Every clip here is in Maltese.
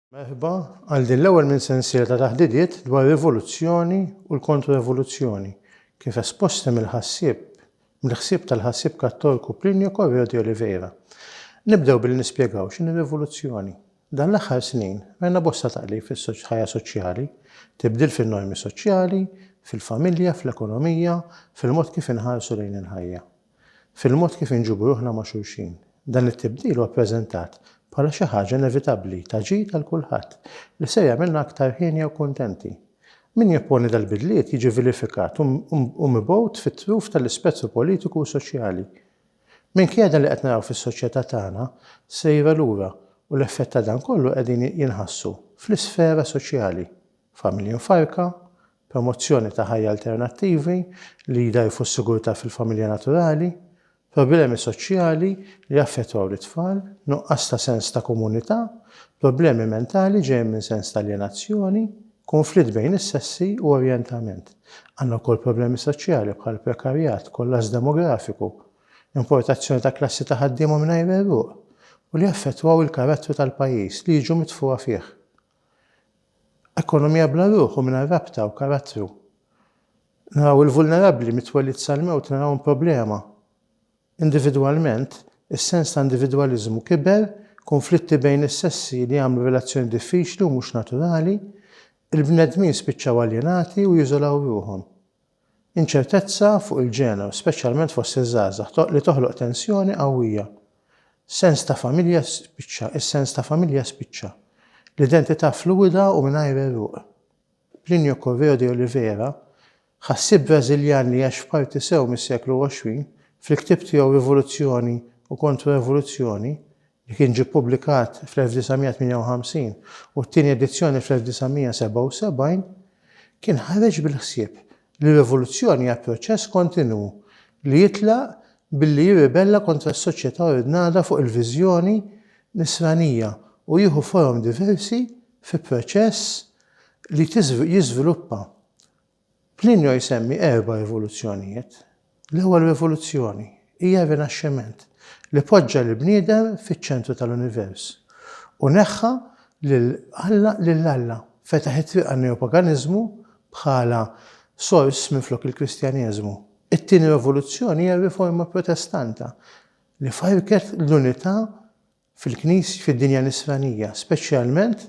Merħba għal din l-ewwel minn sensiela ta' taħdidiet dwar rivoluzzjoni u l-kontrorevoluzzjoni, kif esposti mill-ħassieb mill-ħsieb tal-ħassieb Kattorku Plinio Correo di Oliveira. Nibdew billi nispjegaw x'inhi rivoluzzjoni. Dan l-aħħar snin rajna bosta taqlib fis-ħajja soċjali, tibdil fin-normi soċjali, fil-familja, fl-ekonomija, fil-mod kif inħarsu lejn il-ħajja, fil-mod kif inġibu ruħna ma' xulxin. Dan it-tibdil huwa ppreżentat bħala xi ħaġa inevitabbli ta' ġid għal kulħadd li ser jagħmilna aktar hienja u kuntenti. Min jopponi dal-bidliet jiġi vilifikat u mibgħut fit-truf tal-ispettru politiku u soċjali. Minkejja dan li qed naraw fis-soċjetà tagħna sejra lura u l-effett ta' dan kollu qegħdin jinħassu fl-isfera soċjali, familji mfarrka, promozzjoni ta' ħajja alternattivi li jdgħajfu s-sigurtà fil-familja naturali, problemi soċjali li jaffettwaw lit-tfal, nuqqas ta' sens ta' komunità, problemi mentali ġejjin minn sens ta' aljenazzjoni, Kunflitt bejn is-sessi u orjentament. Għandna wkoll problemi soċjali bħal prekarjat, kollass demografiku, importazzjoni ta' klassi ta' ħaddiema mingħajr għeruq u li jaffettwaw il-karattru tal-pajjiż li jiġu mitfugħa fih. Ekonomija bla ruħ u mingħajr rabta u karattru. Naraw il-vulnerabbli mit-twelid sal-mewt narawhom problema. Individwalment, is-sens ta' individwaliżmu kiber, kunflitti bejn is-sessi li għamlu r-relazzjoni diffiċli u mhux naturali, il-bnedmin spiċċaw aljenati u jiżolaw ruħhom. Inċertezza fuq il-ġeneru, speċjalment fost iż-żgħażagħ, li toħloq tensjoni qawwija. Sens ta' familja spiċċa, is-sens ta' familja spiċċa. L-identità fluwida u mingħajr għeruq. Plinio Correo de Oliveira, Ħassieb Brażiljan li għax f'parti sew mis-seklu 20, fil-ktieb tiegħu Rivoluzzjoni u Kontro-Revoluzzjoni, li kien ġie ppubblikat fl-1958 u t-tieni edizzjoni fl-1977, kien ħareġ bil-ħsieb li rivoluzzjoni hija proċess kontinwu li jitlaq billi jirribella kontra s-soċjetà ordnata fuq il-viżjoni Nisranija u jieħu forom diversi fi proċess li jiżviluppa Plinio jsemmi erba' rivoluzzjonijiet. L-ewwel rivoluzzjoni hija r-Rinaxximent li poġġa lill-bniedem fiċ-ċentru tal-univers u neħħa lil Alla lil Alla, fetaħ it-triq għan-neopaganiżmu bħala sors minflok il-Kristjaneżmu. It-tieni rivoluzzjoni hija r-Riforma Protestanta li farrket l-unità fil-Knis, fid-dinja Nisranija, speċjalment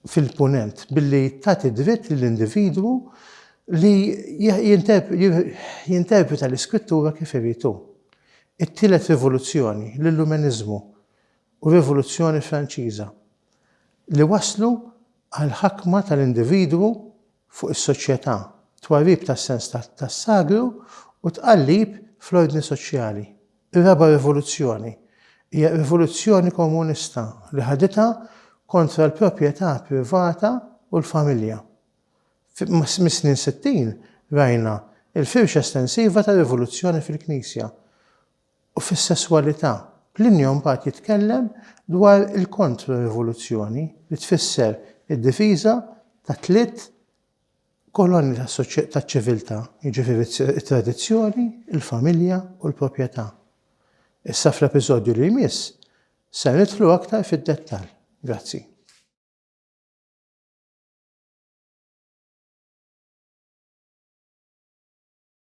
fil-Punent, billi tagħti dritt lill-individwu li jinterpreta l-Iskrittura kif irid hu. It-tielet rivoluzzjoni, l-Illumeniżmu u r-Rivoluzzjoni Franċiża, li wasslu għall-ħakma tal-individwu fuq is-soċjetà, twarrib tas-sens tas-sagru u tqallib fl-ordni soċjali. Ir-raba' rivoluzzjoni hija r-rivoluzzjoni komunista li ħaditha kontra l-proprjetà privata u l-familja. Mis-snin sittin rajna l-firxa estensiva tar-rivoluzzjoni fil-Knisja u fis-sesswalità, Plinju mbagħad jitkellem dwar il-kontro-rivoluzzjoni, li tfisser id-difiża ta' tliet kolonni taċ-ċiviltà, jiġifieri t-tradizzjoni, il-familja u l-proprjetà. Issa fl-episodju li jmiss ser nidħlu aktar fid-dettall. Grazzi.